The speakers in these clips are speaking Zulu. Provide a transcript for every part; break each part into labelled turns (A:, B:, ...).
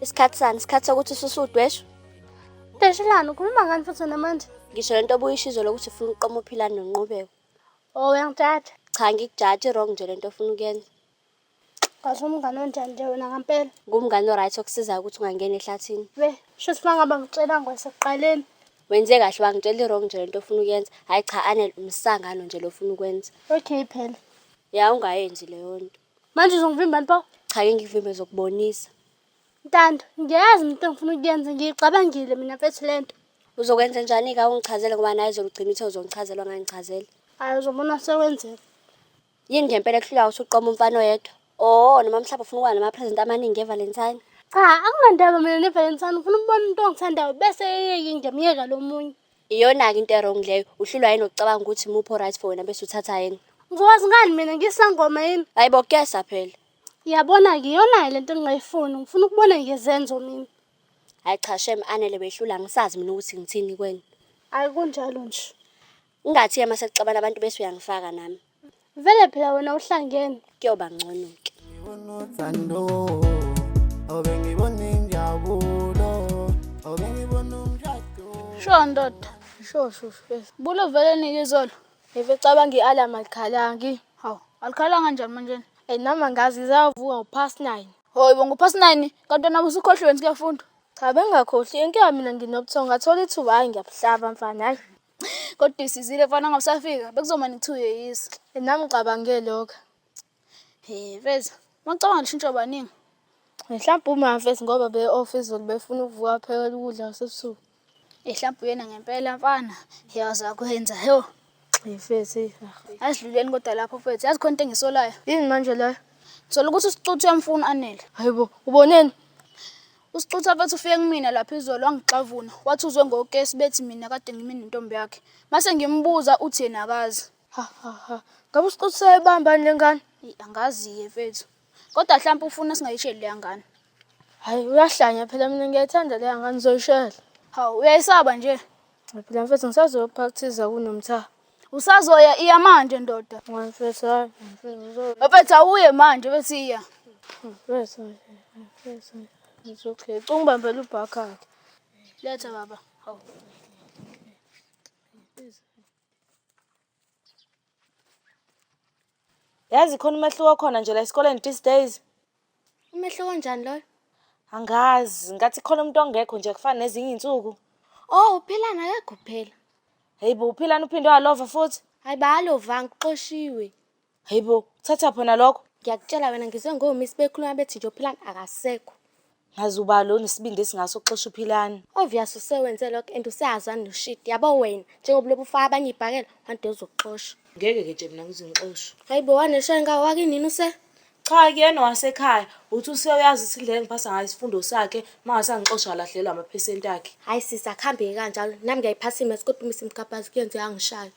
A: Isikhathi sani?
B: Isikhathi sokuthi ususe udweshu? Deshilani,
A: ukhuluma ngani futhi namanje? Ngisho lento obuyisho
B: izolo ukuthi ufuna ukuqoma uphilani nonqubeko. Oh, uyangijaja.
A: Cha ngikujaji
B: wrong nje lento ofuna ukuyenza.
A: Kahle umngane onjani nje wena ngampela. Ngumngane oright okusizayo
B: ukuthi ungangeni ehlathini. We, sho ukuthi mangaba
A: ngitshela ngwasekuqaleni. Wenze kahle
B: wangitshela i-wrong nje lento ofuna ukuyenza. Hayi cha Anel umsangano nje lofuna ukwenza. Okay phela.
A: Ya ungayenzi
B: leyo nto. Manje uzongivimbani pho?
A: Cha ke ngikuvimbe
B: zokubonisa. Ntando,
A: ngiyazi into engifuna ukuyenza ngiyicabangile mina mfethu le nto. Uzokwenza njani
B: ka ungichazele ngoba naye zolugcina ithe uzongichazela ongangichazeli. Hayi uzobona
A: sekwenzeka. Yini
B: ngempela kuhlula usuqoma umfana oyedwa? Oh, noma mhlawumbe ufuna ukuba nama-present amaningi ngeValentine. Cha akunandaba
A: mina neValentine ngifuna ukubona umuntu ongithandayo bese eyeke ngiyamyeka lo munye. Iyona-ke into erong
B: leyo uhlulwa yini ukucabanga ukuthi muphi o-right for wena bese uthatha yena Ngizokwazi ngani mina
A: ngisangoma yini? hayi bo kuyesa phela
B: Yabona-ke
A: iyona-ke lento engingayifuni. Ngifuna ukubona ngezenzo mina. hayi cha
B: shem anele wehlula angisazi mina ukuthi ngithini kweni Akunjalo
A: nje. ungathi-ke uma
B: sekuxabana abantu bese uyangifaka nami Vele phela wena
A: uhlangene. Kuyoba ngcono
B: ke. Ngibona uthando. Obe ngibona injabulo.
A: Obe ngibona umshado. Sho ndoda. Sho sho sho. Bulo vele nike izolo. Eve cabanga i-alarm alikhalangi. Hawu, alikhalanga njani manje? Ey nami angazi ngizavuka upast 9. Hoy bo ngupast 9 kanti wena usukhohlweni sikafunda. Cha bengakhohli inkinga mina nginobuthongo ngathola ithuba hayi ngiyabuhlaba mfana hayi. Kodwa isizile mfana ngoba usafika bekuzomane kuthiwa uyeyisa. Nami ngicabange lokho. He feza, mawucabanga lishintsho baningi. Mhlawumbe umafesi ngoba be-off izolo befuna ukuvuka aphekela ukudla kwasebusuku. Ehlampe uyena ngempela mfana. Yazi akwenza. Yo. Ngifethi. Asidluleni kodwa lapho mfethu. Yazi khona into engisolayo. Yini manje leyo? Thola ukuthi usicuthi uyamfuna anele. Hayibo, uboneni? Usixutha bathi ufike kumina lapha izolo wangixavuna wathi uzwe ngokesi bethi mina kade ngime nentombi yakhe mase ngimbuza uthi yena akazi ha ha ha ngabe usixutha sayibambani lengane angazi-ke mfethu kodwa mhlawumpe ufuna singayisheli leya ngane hhayi uyahlanya phela mina ngiyayithanda leya ngane uzoyishela hawu uyayisaba nje Ngiphila mfethu ngisazoyophakuthiza kunomtha. Usazoya iya manje ndoda. Mfethu hayi mfethu uzo- Mfethu awuye manje bese iya. mfethu mfethu. It's okay. Cunga ubambela ubhakakhe. Letha baba. Hawu.
C: Yazi khona umehluko okhona nje la esikoleni these days. Umehluko
A: onjani loyo? Angazi,
C: ngathi khona umuntu ongekho nje kufana nezinye izinsuku. Oh, uPhilani
A: akekho phela. Hey bo, uPhilani
C: uphinde walova futhi. Hayi balovanga
A: uxoshiwe. Hey bo,
C: uthatha phona lokho. Ngiyakutshela wena ngizwe
A: ngoMiss bekhuluma bethi nje uPhilani akasekho. Ngaze uba
C: lo nesibindi esingase uxosha uPhilani. Obvious usewenze
A: lokho and useyazana noshidi. Yabo wena njengoba ulobe ufaka abanye ibhakela one day uzokuxosha. Ngeke ke nje mina ngize
C: ngixoshwe. Hayibo wanesha inkawu
A: wakinini use? Cha kuyena
C: owasekhaya. Uthi usewuyazi ukuthi indlela engiphasa ngayo isifundo sakhe mangase angixosha alahlekelwe amaphesenti akhe. Hayi sisi akuhambeki
A: kanjalo. Nami ngiyayiphasa imaths kodwa uma isimgabhazi kuyenzeka angishaywe.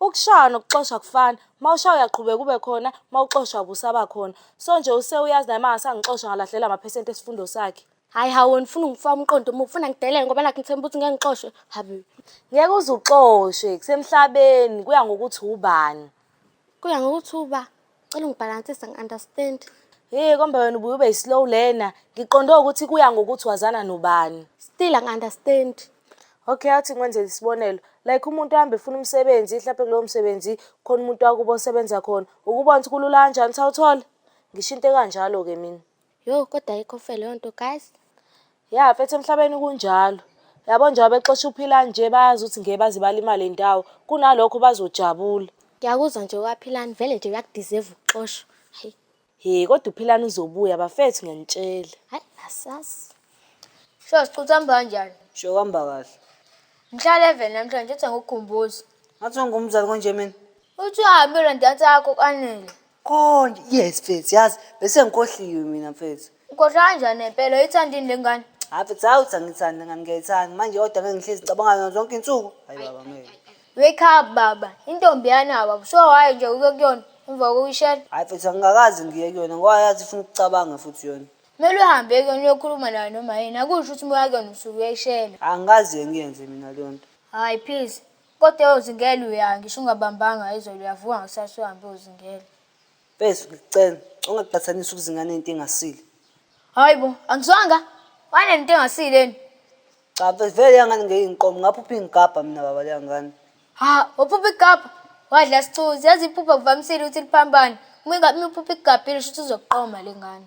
A: Ukushaywa
C: nokuxoshwa akufani, uma ushaywa uyaqhubeka ube khona, uma uxoshwa abe usabakhona. So nje usewuyazi naye uma ngase angixosha ngalahlekelwa amaphesenti esifundo sakhe. Hhayi hhawu wena ufuna
A: ungifaka umqondo omubi, ufuna ngidelele ngoba nakhu ngithemba ukuthi ngeke ngixoshwe, hhabi. Ngeke uze
C: uxoshwe, kusemhlabeni kuya ngokuthi ubani. Kuya ngokuthi
A: uba? Cela ungibhalansise ngi-understand. Hey komba wena
C: ubuye ube slow lena. Ngiqonde ukuthi kuya ngokuthi wazana nobani. Still angi-understand.
A: Okay
C: athi ngikwenzele isibonelo. Like umuntu ahambe efuna umsebenzi, mhlawumbe kulowo msebenzi khona umuntu wakubo osebenza khona. Ukubona ukuthi kulula kanjani ukuthi awuthole. Ngisho into ekanjalo-ke mina. Yho kodwa ayikho
A: fair leyo nto guys. Ya mfethu
C: emhlabeni kunjalo. Yabo njengoba bexosha uPhila nje bayazi ukuthi ngeke baze balimale ndawo. Kunalokho bazojabula. Ngiyakuzwa nje
A: kwaphilani vele nje uyakudeserve ukuxoshwa. Hayi. He kodwa uPhilani
C: uzobuya bafethu ngiyanitshela. Hayi asazi.
A: Sho siqutha hamba kanjani? Sho kwamba kahle.
D: Ngihlala
A: even namhlanje uthi ngikukhumbuze. Ngathi ungumzali
D: konje mina. Uthi uhambe
A: ulandata yakho kanele. Konje
D: yes mfethu yazi bese ngikohliwe mina mfethu. Ukhohlwa kanjani
A: ngempela uyithandini lengane? Hayi mfethu hawu uthi
D: angithandi ngani ngiyayithanda manje kodwa ngeke ngihlezi ngicabanga ngayo zonke insuku. Hayi baba ngeke. Wake up
A: baba, intombi yana baba. So waye nje uke kuyona emva kokuyishela. Hayi mfethu angingakaze
D: ngiye kuyona ngoba yazi ifuna ukucabanga futhi yona. Kumele uhambe kuyona
A: uyokhuluma nayo noma yini. Akusho ukuthi uma uya kuyona usuke uyayishela. Angikaze ngiyenze
D: mina leyo nto. Hayi please.
A: Kodwa yozingela uya ngisho ungabambanga izolo uyavuka ngakusasa uhambe yozingela.
D: Mfethu ngicela ungaqhathanisi ukuzinga nento engasile. Hayi bo,
A: angizwanga. Wane nto engasile yini? Cha mfethu
D: vele yangane ngeke ngiqome ngaphupha ingigabha mina baba leyangane. Ha, uphupha
A: igabha. Wadla sichuzi. Yazi iphupha kuvamisile ukuthi liphambane. Uma ingabe uphupha igabhile shuthi uzoqoma lengane.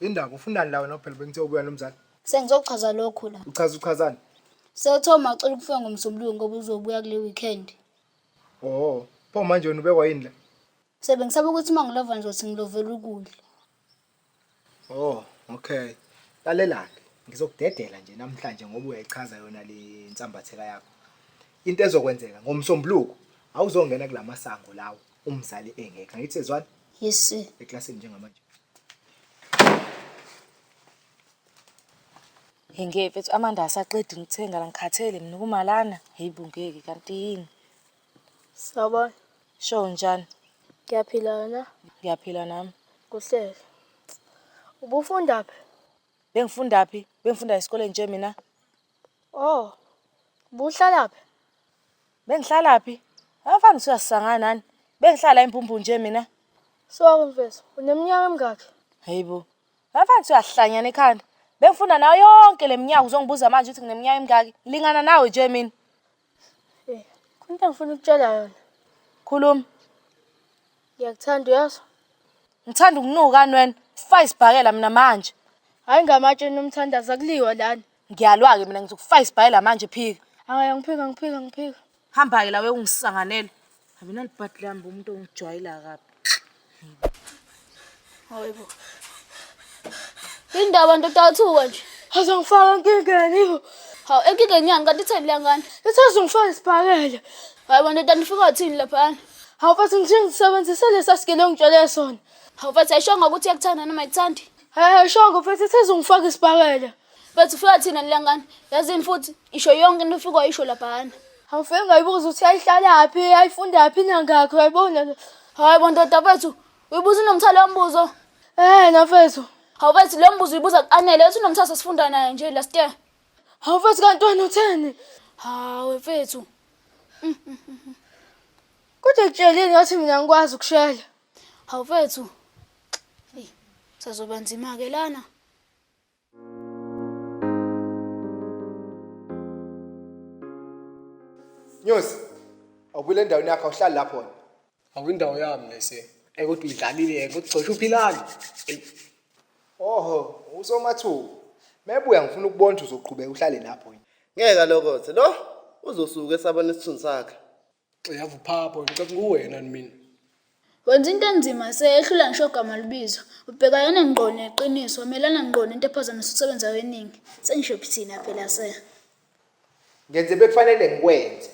E: Indaba ufunani la wena phela bengithe ubuya nomzali. Sengizochaza lokhu
A: la. Uchaza uchazani?
E: Sewuthe
A: umacela ukufika ngomsombuluko ngoba uzobuya kule weekend. Oh,
E: pho manje wena ubekwa yini la? Sebe ngisaba ukuthi
A: uma ngilova ngizothi ngilovela ukudla.
E: Oh, okay. Lalelake, ngizokudedela nje namhlanje ngoba uyayichaza yona le nsambatheka yakho. Into ezokwenzeka ngomsombuluko awuzongena kulamasango lawo. umzali engekho angithi ezwani yes sir eklasini njengamanje
C: ngeke mfethu amanda asaqedi ngithenga la ngikhathele mina kumalana hey bungeke kanti yini
A: sawubona sho
C: njani ngiyaphila wena
A: ngiyaphila nami
C: kuhlele
A: ubufunda phi bengifunda
C: phi bengifunda esikoleni nje mina oh
A: buhlalaphi Bengihlalaphi?
C: Abafana siyasangana nani? Bengihlala impumpu nje mina. Sorry mfethu,
A: uneminyaka emingaki? Hayibo.
C: Abafana siyahlanyana ekhanda. Bengifunda nayo yonke leminyaka uzongibuza manje ukuthi ngineminyaka emingaki? Lingana nawe nje mina.
A: Eh, kunto engifuna ukutshela yona. Khuluma. Ngiyakuthanda uyazi? Ngithanda
C: ukunuka anwen. Fayisibhakela mina manje. Hayi ngamatshe
A: nomthandaza kuliwa lana. Ngiyalwa-ke mina
C: ngizokufaka isibhayela manje phika. Hhayi angiphiki angiphiki
A: angiphiki. Hamba-ke la
C: wekungisanganela. Habi nalibhadi lami bo umuntu ongijwayela kabi.
A: Hayibo. Yini ndaba ndoda yathuka nje? Azongifaka enkingeni bo. Hawu enkingeni yani kanti itheni leya ngane? Ithi azongifaka isibhakela. Hayibo ndoda nifika wathini laphana? Hawu mfethu ngithe ngisebenzise lesa sigele ongitshele sona. Hawu mfethu ayishongo ukuthi iyakuthanda noma ayikuthandi? Hhayi ayishongo mfethu ithi izongifaka isibhakela. Bathi ufika thina nilangani. Yazini futhi isho yonke into ufika wayisho laphana. Awufike ngayibuza ukuthi ayihlalaphi, ayifundaphi nangakho yayibona le. Hayi bo ndoda bethu, uyibuza unomthalo wombuzo. Eh nafethu. Hawu bethu lo mbuzo uyibuza kuanele, uthi unomthalo sesifunda naye nje last year. Hawu mfethu kanti wena utheni? Hawu mfethu. Kodwa kutshelini ngathi mina ngikwazi ukushela. Hawu mfethu. Eyi, sazoba nzima ke lana.
E: Nyosi, awubile endaweni yakho awuhlali lapho wena. Awindawo yami
F: lese. Ekuthi uyidlalile ke kugcosha uphilani. Oho,
E: usomathuku. Mebuya ngifuna ukubona ukuthi uzoqhubeka uhlale lapho wena. Ngeke alokothe. Lo
G: uzosuka esabona isithunzi sakhe. Xeyavu
F: phapho ngicela kuwena mina. Wenza into
A: enzima seyehlula ngisho ogama lubizo. Ubhekayana ngqo neqiniso, melana ngqo nento ephazamisa ukusebenza kweningi. Sengisho phithina phela se.
E: Ngenze bekufanele ngikwenze.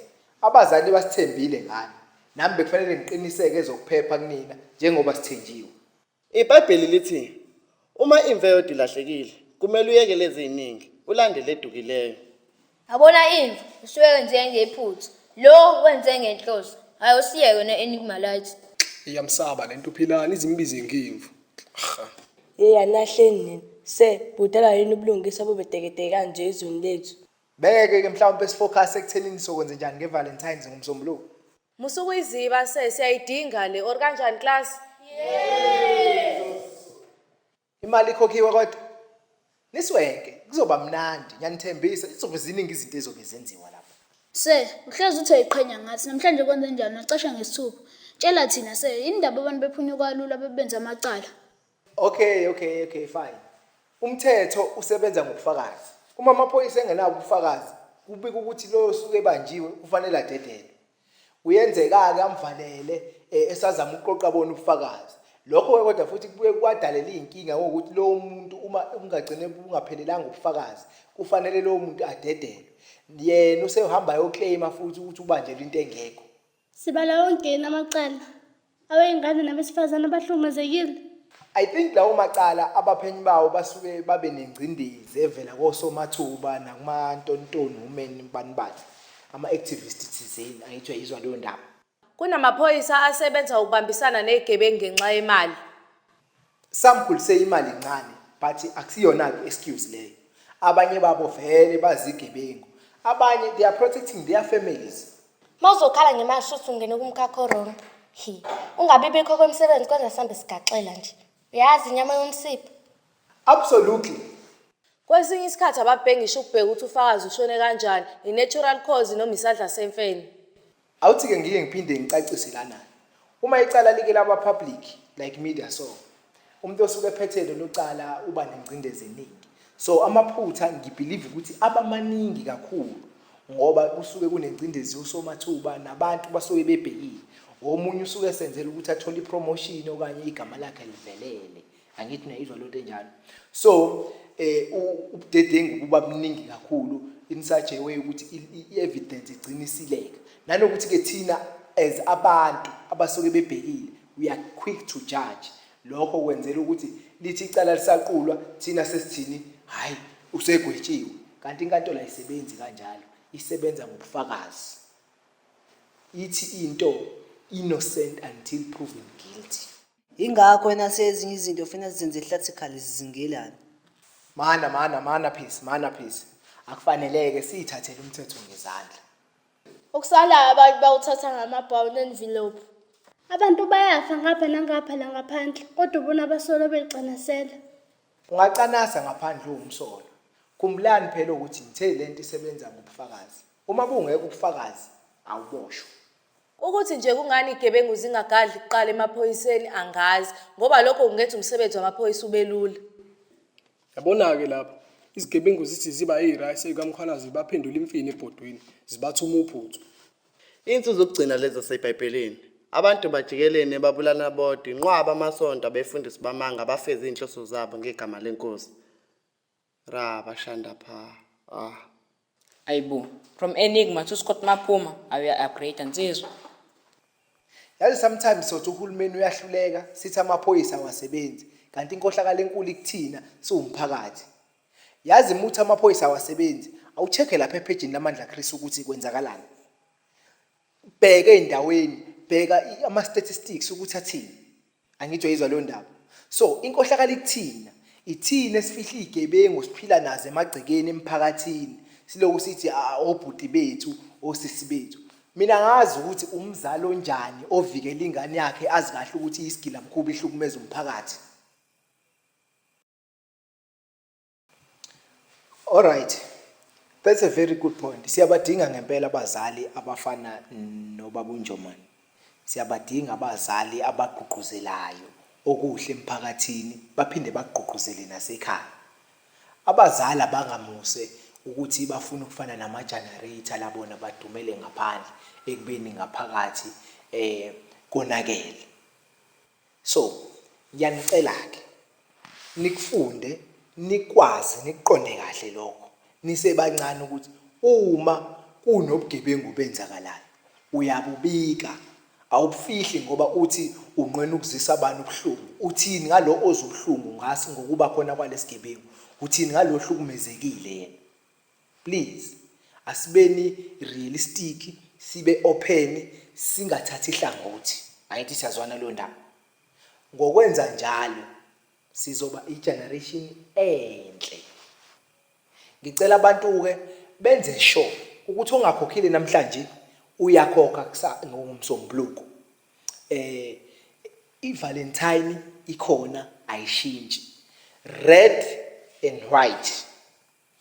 E: Abazali basithembile ngani. Nami bekufanele ngiqiniseke ezokuphepha kunina njengoba sithenjiwe. IBhayibheli
G: lithi uma imvu eyodwa ilahlekile, kumele uyekele eziningi, ulandele edukileyo. Yabona
H: imvu usuke njenge iphutha. Lo wenze ngenhloso. Hayi usiye yona Enigma Lights. Iyamsaba lento
F: uphilani izimbize ngimvu. Cha. Yeya nahleni
I: nina. Se budala yini ubulungisa bube teketeke kanje ezweni lethu. Beke ke
E: mhlawumbe sifocus ekuthenini sokwenze njani ngeValentines ngomsombuluko. Musukuyiziba
C: se siyayidinga le or kanjani class?
E: Imali ikhokhiwe kodwa. Niswenke kuzoba mnandi ngiyanithembisa izobe ziningi izinto ezobe zenziwa lapha. Sir, uhlezi
A: uthi uyayiqhenya ngathi. Namhlanje kwenze njani? Wacasha ngesithupha. Tshela thina, sir, yini indaba abantu bephunyuka kalula bebenza amacala? Okay,
E: okay, okay, fine. Umthetho usebenza ngobufakazi. Uma amaphoyisa engenabo ubufakazi, kubika ukuthi loyo osuke ebanjiwe ufanele adedelwe. Kuyenzeka-ke amvalele eh, esazama ukuqoqa bona ubufakazi. Lokho-ke kodwa futhi kubuye kwadalele iy'nkinga ngokuthi lowo muntu uma kungagcine bungaphelelanga ubufakazi, kufanele lowo muntu adedelwe. Yena usehamba ayokleyima futhi ukuthi ubanjelwe into engekho. Sibala
J: wongeni amacala
E: aweyingane
J: nabesifazane abahlukumezekile.
E: I think lawo macala abaphenyi bawo basuke babe nengcindezi evela kosomathuba nakumantontoni women banibani ama-activist thizeni angithi uyayizwa leyo ndaba Kunamaphoyisa
C: asebenza ukubambisana negebengu ngenxa yemali.
E: Samkhulise imali ncane but aksiyona ke excuse leyo. Abanye babo vele bazigebengu. Abanye they are protecting their families. Mawuzokhala
B: ngemali shuthi ungene kumkhakha orong. Hi. Ungabi bikho kwemsebenzi kwenza sambe sigaxela nje. Uyazi inyama yomsipha. Absolutely.
C: Kwesinye isikhathi ababhekngisho ukubheka ukuthi ufakazi ushone kanjani, yi-natural cause noma isadla semfene. Awuthi-ke
E: ngike ngiphinde ngicacise lana. Uma icala like laba public like media so, umuntu osuke ephethe lelo cala uba nengcindezi eningi. So amaphutha ngibhilive ukuthi aba maningi kakhulu ngoba kusuke kunengcindezi yosomathuba nabantu basuke bebhekile. Omunye usuke esenzela ukuthi athole ipromotion okanye igama lakhe livelele. angithi niyayizwa lonto enjalo so eh ubudedengu kuba buningi kakhulu in such a way ukuthi i-evidence igcina isileka nanokuthi ke thina as abantu abasuke bebhekile we are quick to judge lokho kwenzela ukuthi lithi icala lisaqulwa thina sesithini hayi usegwetshiwe kanti inkantolo ayisebenzi kanjalo isebenza ngobufakazi ithi into innocent until proven guilty Ingakho wena
D: sezinye izinto funa zenze ehlathikhala zizingelana. Mana
E: mana mana peace mana peace. Akufaneleke siyithathele umthetho ngezandla. Okusalayo
A: abantu bawuthatha ngamabhawu nenvelope. Abantu bayafa ngapha nangapha la ngaphandle kodwa ubona abasolo becanasela. Ungacanasa
E: ngaphandle uwumsolo. Khumbulani phela ukuthi ngithe lento isebenza ngobufakazi. Uma bungekho ubufakazi awuboshwa. Ukuthi
C: nje kungani igebengu zingagadli kuqala emaphoyiseni angazi ngoba lokho kungenza umsebenzi wamaphoyisa ubelula.
F: Yabona-ke lapha izigebengu zithi ziba eyirayisi ekamkhwanazi baphendula imfini ebhodweni zibathuma uphuthu. Insu
G: zokugcina lezi zaseBhayibhelini. Abantu bajikelene babulana bodwa inqwaba amasonto abefundisi bamanga abafeza izinhloso zabo ngegama leNkosi. Ra bashanda pha. Ah. Ayibo.
J: From Enigma to Scott Mapuma. Awuya upgrade nsizwa.
E: Yazi sometimes sothi uhulumeni uyahluleka sithi amaphoyisa awasebenzi kanti inkohlakalo enkulu ikuthina siwumphakathi. Yazi muthi amaphoyisa awasebenzi awucheck lapha ephejini lamandla Chris ukuthi kwenzakalani. Bheke endaweni, bheka ama statistics ukuthi athini. Angijoyizwa leyo ndaba. So inkohlakala ikuthina. Ithina esifihla izigebengu siphila nazo emagcekeni emphakathini. Siloku sithi "Ah, obhuti bethu, osisi bethu. Mina ngazi ukuthi umzali onjani ovikela ingane yakhe azi kahle ukuthi isigila mkhuba ihlukumeza umphakathi. Alright. That's a very good point. Siyabadinga ngempela abazali abafana nobaba uNjomani. Siyabadinga abazali abagqugquzelayo okuhle emphakathini baphinde bagqugquzele nasekhaya. Abazali abangamuse ukuthi bafuna ukufana nama-generator labona badumele ngaphandle ekubeni ngaphakathi eh konakele. So ngiyanicela-ke nikufunde nikwazi nikuqonde kahle lokho nisebancane ukuthi uma kunobugebengu obenzakalayo uyabubika awubufihli ngoba uthi unqwena ukuzisa abantu ubuhlungu uthini ngalo ozubuhlungu ngasi ngokuba khona kwalesigebengu uthini ngalo hlukumezekile yena Please asibeni realistic sibe open singathathi hlangothi. Angithi siyazwana kuleyo ndawo. Ngokwenza njalo sizoba igeneration enhle. Ngicela abantu-ke benze sure ukuthi ongakhokhile namhlanje uyakhokha ngomsombuluko. Eh iValentine ikhona ayishintshi. Red and white.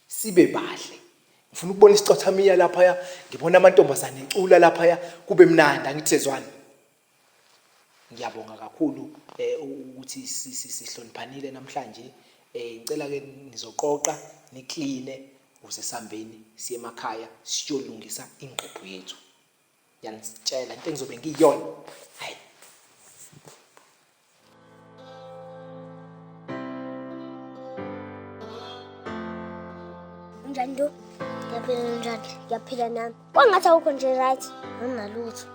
E: sibe bahle ngifuna ukubona isicothamiya laphaya ngibona amantombazane ecula laphaya kube mnandi angithi sezwana ngiyabonga kakhulu eh, ukuthi sihloniphanile namhlanje eh, ngicela ke nizoqoqa nikline ukuze sihambeni siye emakhaya siyolungisa ingqephu yethu yanitshela into engizobe ngiyiyona hayi
B: unjani nto ngiyaphila unjani ngiyaphila nami kwangathi awukho nje right anginalutho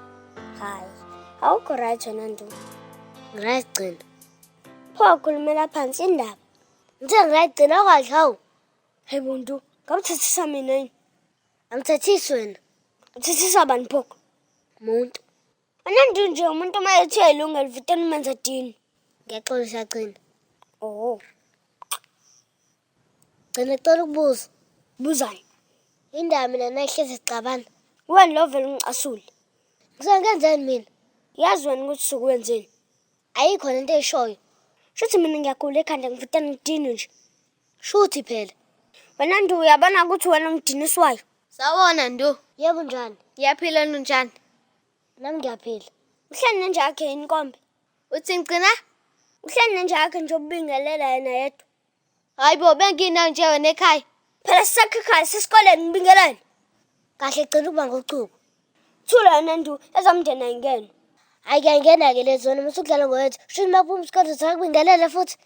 B: hayi awukho right wena nto ngiryt gcina pho wakhulumela phansi indaba ngithe ngiryt gcina kwahle hawu hayi buntu ngamthethisa mina yini Angithethisi wena. Uthethisa bani pho? Umuntu. Anantu nje umuntu uma ethiwa ilungelo futhi umenza dini. Ngiyaxola siyagcina. Oh. Gcina cela ukubuza. Buzani. Indaba mina nayihlezi sixabana. Wena lo vele ungicasule. Ngisengenzeni mina? Yazi wena ukuthi sukwenzeni? Ayikho lento eyishoyo. Shuthi mina ngiyagula ekhanda ngivutana ngidinwe nje. Shuthi phela. Wena Ndu uyabona ukuthi wena umdiniswayo. Sawona Ndu.
H: Yebo njani?
B: Ngiyaphila Ndu njani?
H: Nami
B: ngiyaphila. Uhleli nenja yakhe yini kombe? Uthi ngigcina?
H: Uhleli nenja
B: yakhe nje ubingelela yena yedwa. Hayi bo
H: benginani nje wena ekhaya. Phela sisakhikhala
B: sesikoleni ngibingelele. Kahle gcina ukuba ngochuku. Thula yona ndu ezamndeni ayingene. Hayi kuyangena ke lezona musukudlala ngowethu. Shini maphuma isikole sakubingelele futhi.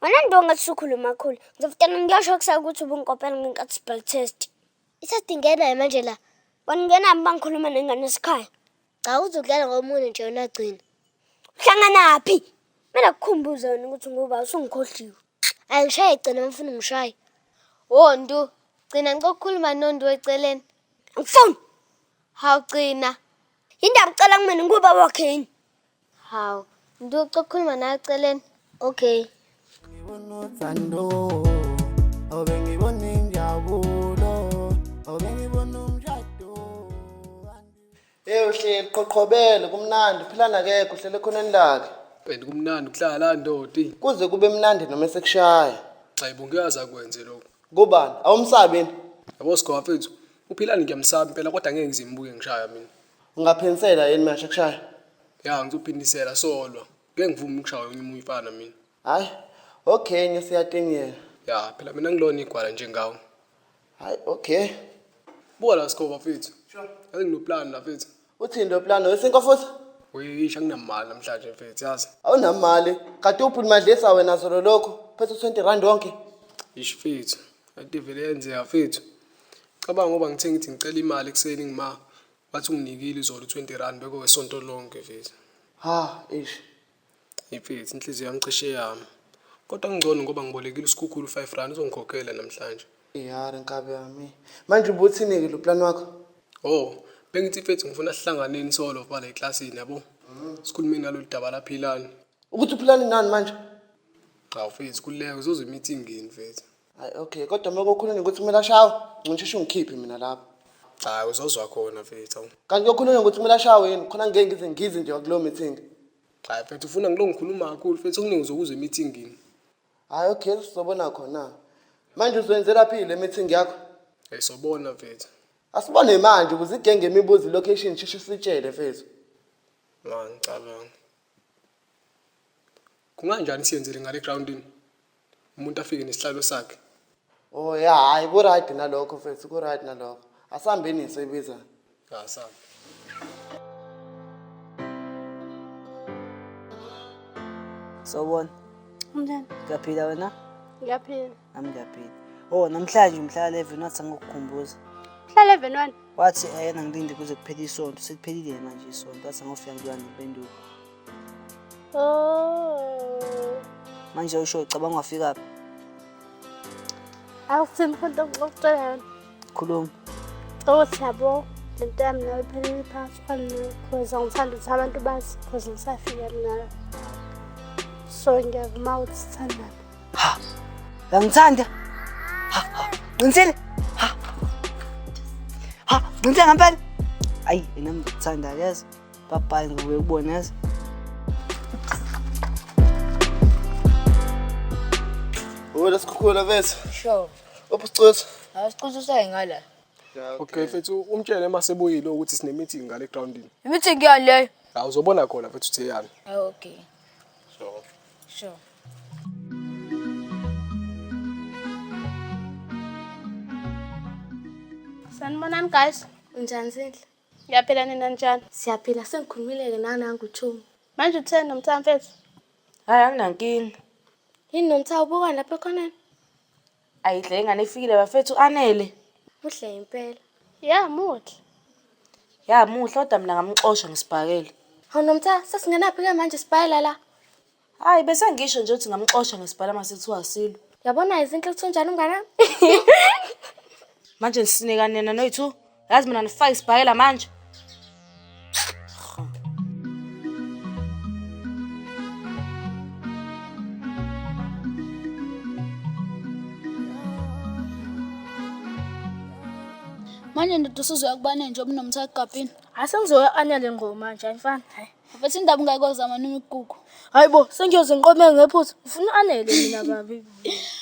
B: Wena ndu ngathi sukhuluma kakhulu. Ngizofutana ngiyosho kusaka ukuthi ubunkopela ngenkathi sibhal test. Isadingena manje la. Wena ngena bangikhuluma nengane esikhaya. Cha uzokudlala ngomunye nje yona gcina. Uhlanganaphi? Mina kukhumbuze wena ukuthi ngoba usungikhohliwe. Angishaye gcina ngifuna ungishaye. Wo Ndu,
H: gcina ngicela ukukhuluma noNdu eceleni. Angifuni.
B: Hawu
H: gcina. Yini ndaba ucela
B: kumina ngoba wakhe yini? Hawu,
H: ngiduca ukukhuluma nawe eceleni. Okay.
B: Ngibona
K: uthando, obe ngibona injabulo, obe ngibona umshado. Hey
G: uhleli qoqhobele kumnandi philana ke kuhlele khona enilake. And kumnandi
F: ukuhlala la ndodi. Kuze kube mnandi
G: noma sekushaya. Cha ibungiyaza
F: kwenze lokho. Kubani? Awumsabi
G: yini? Yabo sigofethu.
F: Uphilani ngiyamsaba impela kodwa ngeke ngizimbuke ngishaya mina. Ungaphensela
G: yini manje kushaya? Ya
F: ngizophindisela solo. Ngeke ngivumi ukushaya omunye umuntu ifana mina. Hayi.
G: Okay, ngesiyatingela. Ya phela mina
F: ngilona igwala njengawe. Hayi,
G: okay. Buka
F: la Skoba mfethu. Sure. Yazi nginoplan la mfethu. Uthini lo plan wesinko
G: futhi? Uyisha nginamali
F: namhlanje mfethu yazi. Awunamali.
G: Kade uphuluma dlisa wena zolo lokho. Phethe 20 rand wonke. Ish mfethu.
F: Kanti vele yenzeka fethu. Cabanga ngoba ngithe ngithi ngicela imali ekuseni ngima bathi unginikile izolo 20 rand beko wesonto lonke fethu. Ha,
G: eish. Ifethu
F: inhliziyo yami cishe yami. Kodwa ngcono ngoba ngibolekile usikhukhulu 5 rand uzongikhokhela namhlanje. Yara nkabi
G: yami. Manje ubuthini-ke lo plan wakho? Oh,
F: bengithi fethu ngifuna sihlanganeni solo bala eklasini yabo. Sikhulumeni ngalolu daba laphilani. Ukuthi uphilani
G: nani manje? Cha
F: mfethu kuleka uzozwa imithi ingeni mfethu. Hayi okay kodwa
G: uma kokhulunye ukuthi kumele ashawe ngincisheshe ungikhiphe mina lapho. Cha uzozwa
F: khona mfethu. awu. Kanti kokhulunye ukuthi kumele
G: ashawe yini khona ngeke ngize ngize nje kuleyo meeting. Cha mfethu
F: ufuna ngilo ngikhuluma kakhulu mfethu okuningi uzokuzwa imithi ingeni. Hayi okay
G: sizobona khona. Manje uzwenzela phi le meeting yakho? Hey sobona
F: mfethu. Asibone manje
G: ukuze igenge imibuzo location sheshe sitshele mfethu. Ma
F: ngicabanga. kunganjani siyenzele ngale groundini umuntu afike nesihlalo sakhe Oh ya
G: hayi ku right nalokho mfethu ku right nalokho. Asihambeni ngiso ibiza. asam Sawubona. Umntana.
F: Uyaphila
D: wena?
A: Ngiyaphila. nami ngiyabhida
D: oh namhlanje umhlala even wathi angokukhumbuza mhlala even
A: wani wathi ayena eh, ngilinde
D: kuze kuphele isonto seliphelile yena manje isonto wathi angofika ngilwa nempendulo
A: oh manje usho
D: ucabanga wafikaphi
A: awuthini mfana ngokucela yona Khuluma.
D: Oh
A: siyabo lento yami nawe iphelele phansi kwanikhoza ngithanda ukuthi abantu bazi khoza ngisafika mina so ngiyavuma ukuthi sithandane ha
D: uyangithanda ha ha qinisile ha ha qinisile ngempela ayi yena ngithanda yazi babhayi ngobe ubona yazi
G: Hola, escuela, ¿ves? Sure.
H: Ubucuthu.
G: Awucuthu usayingala.
H: Okay mfethu
F: umtshele uma sebuyile ukuthi sine meeting ngale groundini. Imithi ngiyani leyo?
H: Hawu uzobona khona mfethu
F: uthe yani. Ah, Okay. Sure.
H: Sure.
A: Sanibonani guys. Unjani Zinhle?
B: Ngiyaphila nina
A: njani? Siyaphila sengikhulumile-ke
B: nanangu Chomi. Manje utheni
A: nomthamfethu? Hhayi
C: anginankinga. Yini Nomtha
B: ubuka lapha ekhoneni? Ayidle
C: ingane ifikile bafethu anele. Muhle impela.
B: Ya muhle.
A: Ya
C: muhle kodwa mina
B: ngamxosha
C: ngisibhakele. Hawu
B: Nomtha
C: sesingenaphi
B: ke manje
C: sibhayela
B: la? Hayi
C: bese ngisho nje ukuthi ngamxosha ngesibhala mase kuthiwa asilo. Yabona izinhle ukuthi
B: unjani umngane wami?
C: Manje nisinekani nina noyi-two? yazi mina ndifake isibhakela manje
A: manje ndoda usuzoya kubane nje obunomtha egabhini hayi sengizoya anya le
B: ngoma nje ayifani hayi mfethu indaba ungayikozama
A: noma ikugugu hayi bo sengiyoze
B: ngiqome ngephutha ngifuna u-anele mina babi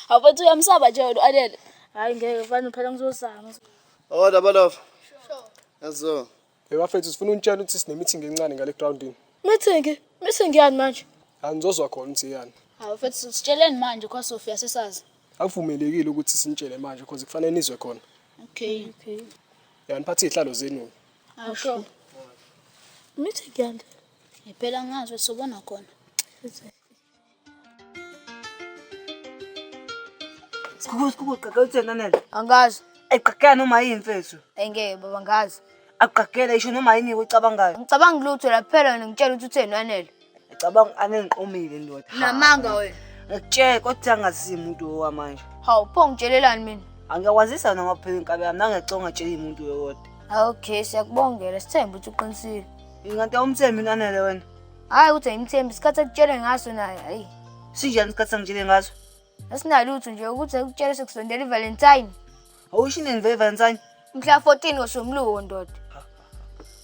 B: awufethu
A: uyamsaba nje wena u-anele hayi ngeke mfana
B: phela ngizozama Oda oh, balofa.
G: Sure. Yazo. Hey bafethu
F: sifuna unitshela ukuthi sine meeting encane ngale groundini. Meeting? Meeting
B: yani manje? Angizozwa khona ukuthi
F: yani. Hawu mfethu sitsheleni
A: manje kwa Sophia sesazi. Akuvumelekile ukuthi
F: sinitshele manje because kufanele nizwe khona. Okay.
A: Okay. Yani
F: phathi ihlalo zenu. Hawu
A: sure.
B: Meeting yani. Ngipela ngazi
A: ukuthi sobona khona.
D: Sikhukhu sikhukhu ugqagela utheni Anele? Angikazi.
H: Ayigqagela noma yini
D: mfethu. Engeke baba ngazi.
H: Agqagela isho
D: noma yini uyicabangayo. Ngicabanga lutho la kuphela
H: wena ngitshela ukuthi utheni Anele. Ngicabanga Anele
D: ngiqomile ndoda. Namanga wena.
H: Ngikutshela kodwa
D: angazi umuntu owamanje. Hawu pho ngitshelelani
H: mina? Angiyakwazisa wena ngophela
D: inkabi yami nangeconga tshela umuntu wewodwa. Okay siyakubongela
H: sithemba ukuthi uqinisile. Ingathi awumthembi
D: Anele wena. Hhayi ukuthi ayimthembi
H: isikhathi akutshele ngaso naye hayi. Sinjani isikhathi sangitshele
D: ngaso? Asinalutho nje
H: ukuthi akutshele sekusondela iValentine. Awusho inini
D: vele Valentine? Mhla 14
H: ngoSomluko ndoda.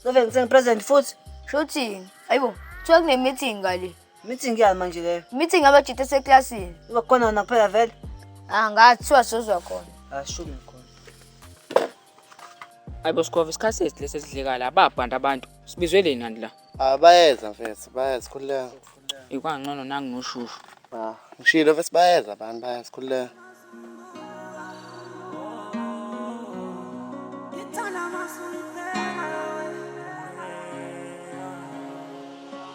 H: So
D: Valentine present futhi. Shothini.
H: Hayibo, kuthiwa kune-meeting ngale. Meeting yani manje
D: leyo? Meeting abajita
H: eseklasini. Uba khona wena kuphela
D: vele? Ah, ngathiwa
H: sozwa khona. Asho mina.
J: Ayibo Skova isikhathi esi lesi esidlekala ababhanda abantu. Sibizwe leni kanti la? Ah bayeza mfethu,
G: bayeza khululeka. Ikwangcono
J: nangu noshushu. Ah, ngishilo
G: mfethu bayeza abantu bayeza khululeka.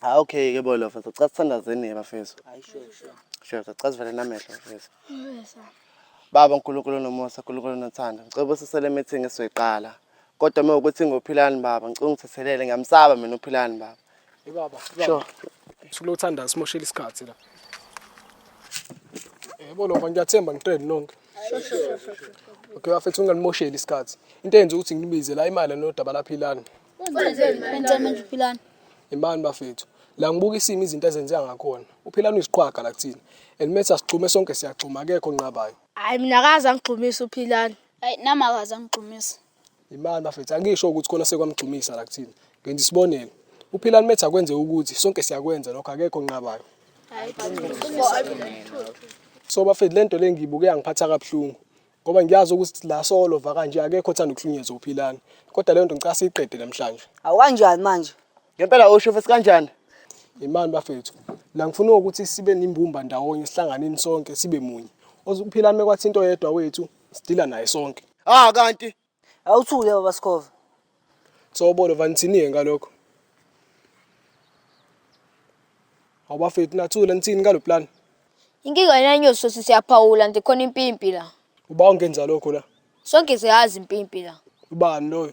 G: Ah okay ke bolo mfethu cha sithandazeni ke bafethu. Hayi
D: sure sure. Sure cha sivele
G: namehlo mfethu. Baba uNkulunkulu nomusa uNkulunkulu nothando. Ngicela usisele meeting esizoyiqala. Kodwa uma ukuthi ngophilani baba ngicela ungithethelele ngiyamsaba mina uphilani baba. Hey baba.
F: Sure. Usuku lothanda simoshela isikhathi la. Yebo lo ngiyathemba ngiqedi nonke. Sure sure
A: sure. Okay
F: bafethu ungalimosheli isikhathi. Into eyenza ukuthi nginibize la imali nodaba laphilani.
A: Imani bafethu.
F: La ngibuka isimo izinto ezenzeka ngakhona. Uphilana uyisiqhwaga la kuthina. And mase sigxume sonke siyagxuma akekho nqabayo. Hayi mina akaze
B: angigxumisa uphilana. Hayi nami akaze
A: angigxumisa. Imani bafethu
F: angisho ukuthi khona sekwamgxumisa la kuthina. Ngenza isibonelo. Uphilana metha akwenze ukuthi sonke siyakwenza lokho akekho nqabayo. Hayi. So bafethu lento lengibuke yangiphatha kabuhlungu. ngoba ngiyazi ukuthi la solo va kanje akekho othanda ukuhlunyezwa uphilani kodwa leyo nto ngicela siyiqede namhlanje awu kanjani manje
D: ngempela usho futhi
G: kanjani imani
F: bafethu la ngifuna ukuthi sibe nimbumba ndawonye sihlanganeni sonke sibe munye ozuphilani mekwathi into yedwa wethu sidila naye sonke ah kanti
G: Awuthule baba
D: Sikhova. Sobolo
F: vanithini ngalokho. Awubafethu nathula nithini ngalo plan. Inkinga yena
H: inyosi sosi siyaphawula nje khona impimpi la. Uba ungenza lokho
F: la. Sonke siyazi
H: impimpi la. Ubani loyo?